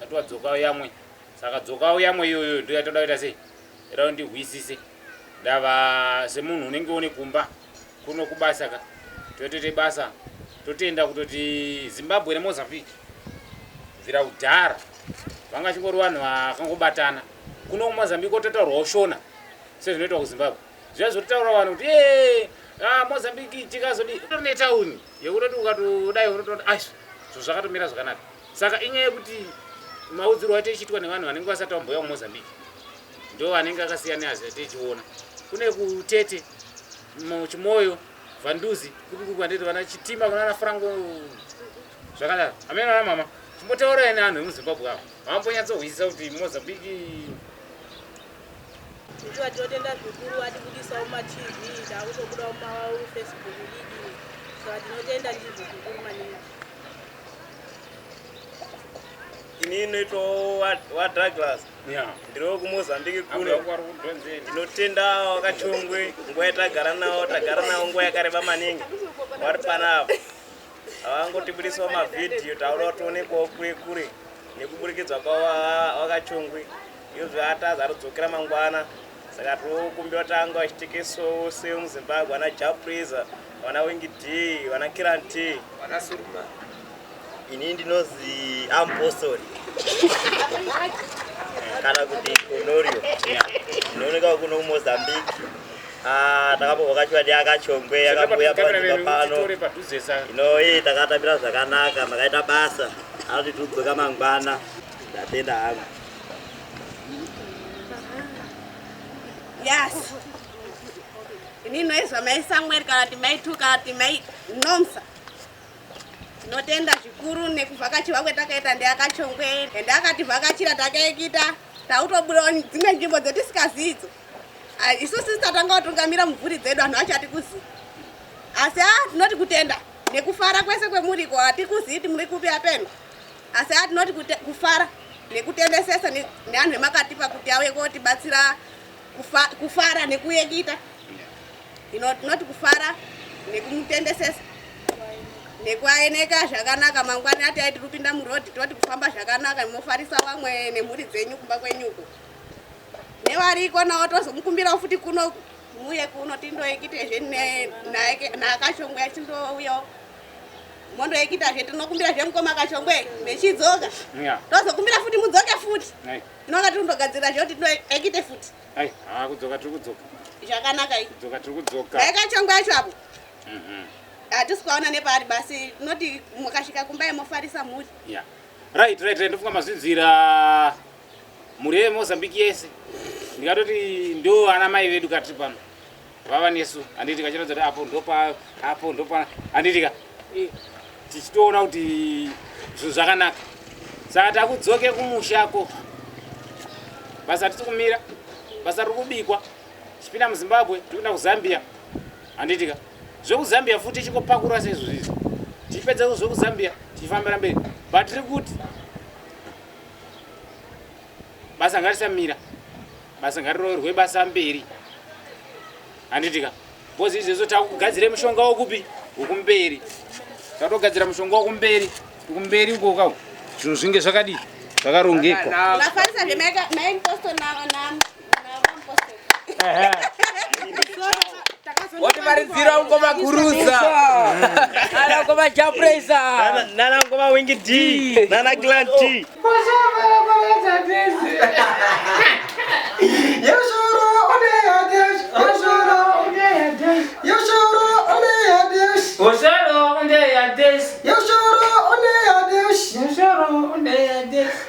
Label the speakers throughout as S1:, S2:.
S1: Tati wadzokawo yamwe. Saka dzokawo yamwe iyoyo ndiyo yatoda kuita sei? Irawo ndihwisise. Ndava semunhu unenge une kumba kuno kubasa ka. Totoite basa. Totenda kutoti Zimbabwe neMozambique bvira kudhara vanga chingori vanhu vakangobatana. Kuno kuMozambique ototaurwawo Shona sezvinoitwa kuZimbabwe. Zviya zvototaura vanhu kuti ee ah, Mozambique tikazodi utori netauni yekutoti ukatodai unotoona aiswa zvakatomira zvakanaka. Saka inyaya yekuti maudzirwo aite ichiitwa nevanhu vanenge vasati vambouya kumozambique ndo anenge akasiyana neazia tichiona kune kutete chimoyo vanduzi kukukwandeti vana chitima kunana frango zvakadaro amene ana mama chimbotaurai neanhu emuzimbabwe avo vambonyatsohwisisa kuti mozambique
S2: ndiwa tinotenda zvikuru atibudisawo matv taakutobudawo mafacebook lidi saka tinotenda ndizvo zvikuru maningi
S3: ini inoitwawo wadouglas ndiriwo kumozambique kuno ndinotenda vakachongwe nguva yatagara navo tagara navo nguva yakareba maningi vari panavo havangotibudisawo mavhidhiyo taura kutoonekwawo kure kure nekuburikidza kwavo vakachongwe iyo zvaataza atodzokera mangwana saka tiri kukumbira kuti ange vachitekesawo semuzimbabwe vana japreza vana wingi d vana kiran t vakasuruma ini ndinozi ampostori kana kuti konorio ndinooneka kuno kumozambique ah, takambovhakachiwa ndiakachongwe yakabuya paiva pano ino ii takatambira zvakanaka makaita basa anotitudzoka mangwana ndatenda hangu
S4: Yes. Ini noizwa mai Samuel kana kuti mai Tu kana kuti mai Nomsa. Tinotenda zvikuru nekuvhakachirwa kwetakaita ndiakachongwe ende akativhakachira takaikita tautobuda dzimwe nzvimbo dzotisikazivi idzo ah, isu sisi tatanga kutungamira mumvuri dzedu vanhu vachati kuzivi asi a ah, tinoti kutenda nekufara kwese kwemuriko hatikuzivi kuti muri kupi apeno asi haa tinoti kufara nekutendesesa neanhu emakatipa kuti auye kotibatsira kufara nekuyekita ino tinoti kufara nekumutendesesa nekuaeneka zvakanaka mangwani ati aiti rupinda murodi tinoti kufamba zvakanaka mofarisa vamwe nemhuri dzenyu kumba kwenyuko nevariko nawo tozomukumbirawo futi kuno muye kuno tindoekitezve naakashongwa tindouyawo mondoekita zve tinokumbira zve mukoma kachongwe mechidzoka tozokumbira futi mudzoke futi tinonga tiri kundogadzirira zve kuti tinoekite futi kudzoka tiri
S1: kudzoka zvakanaka idzoka
S4: tiri kudzoka dai
S1: kachongwe yacho apo
S4: mhm. hatisi kwaona nepaari basi tinoti mukasvika kumbai mofarisa mhuri right right
S1: right ndofunga mazvinzwira mhuri yemozambique yese ndikatoti ndo ana mai vedu katiri pano vava nesu handiti kachiratidza kuti apo ndopa apo ndopa handiti ka eh, tichitoona kuti zvinhu zvakanaka saka takudzoke kumushako basa tisi kumira basa riri kubikwa tichipinda muzimbabwe tikuenda kuzambia handiti ka zvekuzambia futi tichikopakura seizvo zvizi tichipedza zvekuzambia tichifambira mberi but tiri kuti basa ngarisamira basa ngariroverwe basa mberi handitika bcoz izvezvo takugadzira mushonga wokupi wokumberi tatogadzira mushonga wokumberi kumberi ukoka zvinhu zvinge zvakadii zvakarongekwa
S5: wativaridzira ungo maguruza ana ungo majapresa nana ungo
S3: mawingi d nana glan t Osoro, onde ya des. Yosoro, onde ya des. Yosoro, onde ya
S1: des.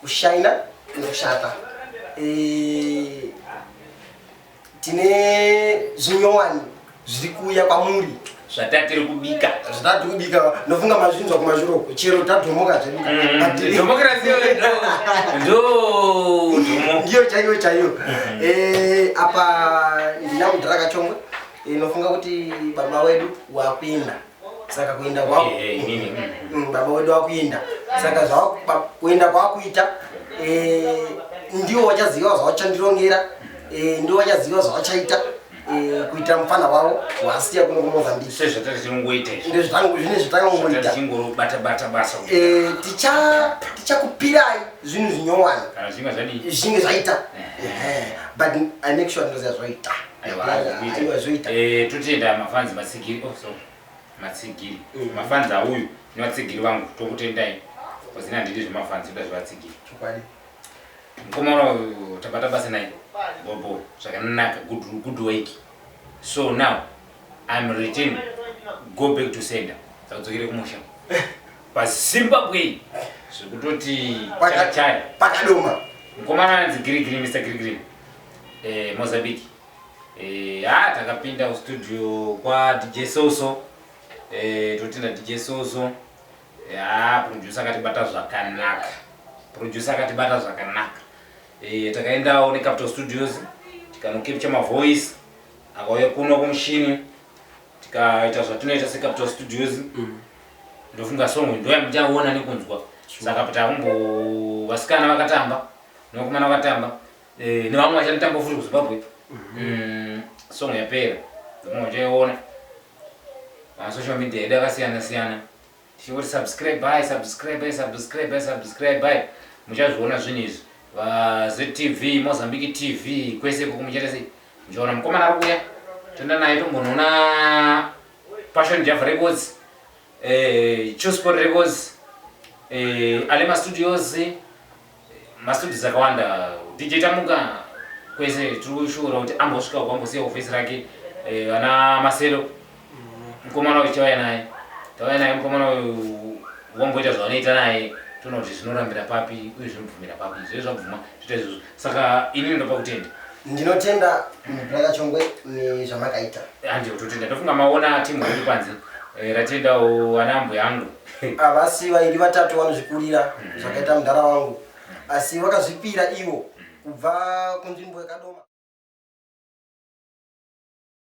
S6: Kushaina kunoshata. Eh, tine zvinyowani zviri kuuya kwamuri zvatatiri kubika
S1: zvatati kubika
S6: ndofunga mazvinzwa kumashuro uko chero tadhomoka zvedu But- Democracy
S1: yo, ndo-
S6: ndo dhomo. ndiyo chaiyo chaiyo Eh, apa ndina mudhara kachongwe Eh, nofunga kuti baba wedu wakuenda saka kuenda kwako eh, eh, eh, mm, mm, baba wedu wakuenda saka kuenda kwakuita ndiwo wachaziva zvawachandirongera ndiwo wachaziva zvawachaita kuitira mufana wavo wasiya kuno
S1: kumozambike tichakupirai
S6: zvinhu zvinyowani
S1: zvinge zvaita
S6: but i make sure ndoziva zvoita eh, totenda mafanzi
S1: matsigiri oh, matsigiri mm. mafanzi auyu nevatsigiri vangu tokutendai kwazina ndidi zvemafanzi oda zvevatsigiri
S6: mukoma
S1: uno tabata basa naye bobo zvakanaka good work so now im return go back to sender tadzokere kumusha pazimbabwe zvekutoti chakachaya pakadoma
S6: mukomana anzi
S1: girigiri mr girigiri eh, Mozambique eh, ah, takapinda kustudio kwa DJ Soso eh, totinda DJ Soso ya producer akatibata zvakanaka producer akatibata zvakanaka eh, takaendawo necapital studios tikanokepcha mavoice akauya kuno kumushini tikaita zvatinoita secapital studios mm. ndofunga song ndoya muchaona nekunzwa saka patakumbo vasikana vakatamba nokumana vakatamba Eh, nevamwe vachanotamba futi kuzimbabwe mm, song yapera vamwe vachaiona masocial media edu akasiyana siyana tichingoti subscribe by subscribe by subscribe by subscribe by muchazviona zvinhu izvi vazetv mozambique tv kwese kuku muchaita sei muchaona mukomana ari kuya toenda naye tombonoona passion java records eh, chusport records eh, alema studios Mastudents akawanda DJ Tamuka kwese tiri kushuura kuti ambosvika kwambosiya office rake eh, ana Masero mukomana uyu chauya naye tauya naye mukomana uyu wamboita zvavanoita naye toona kuti zvinorambira papi uye zvinobvumira papi zve zvabvuma zvoita izvozvo saka ini ndopa kutenda Ndinotenda
S6: brother Chongwe nezvamakaita. Handi kutotenda
S1: ndofunga maona timu iri kwanzi eh, ratendawo vana mbuya yangu. Havasi vairi
S6: vatatu vanozvikurira mm-hmm. zvakaita mudhara wangu asi vakazvipira ivo kubva kunzvimbo yakadoma.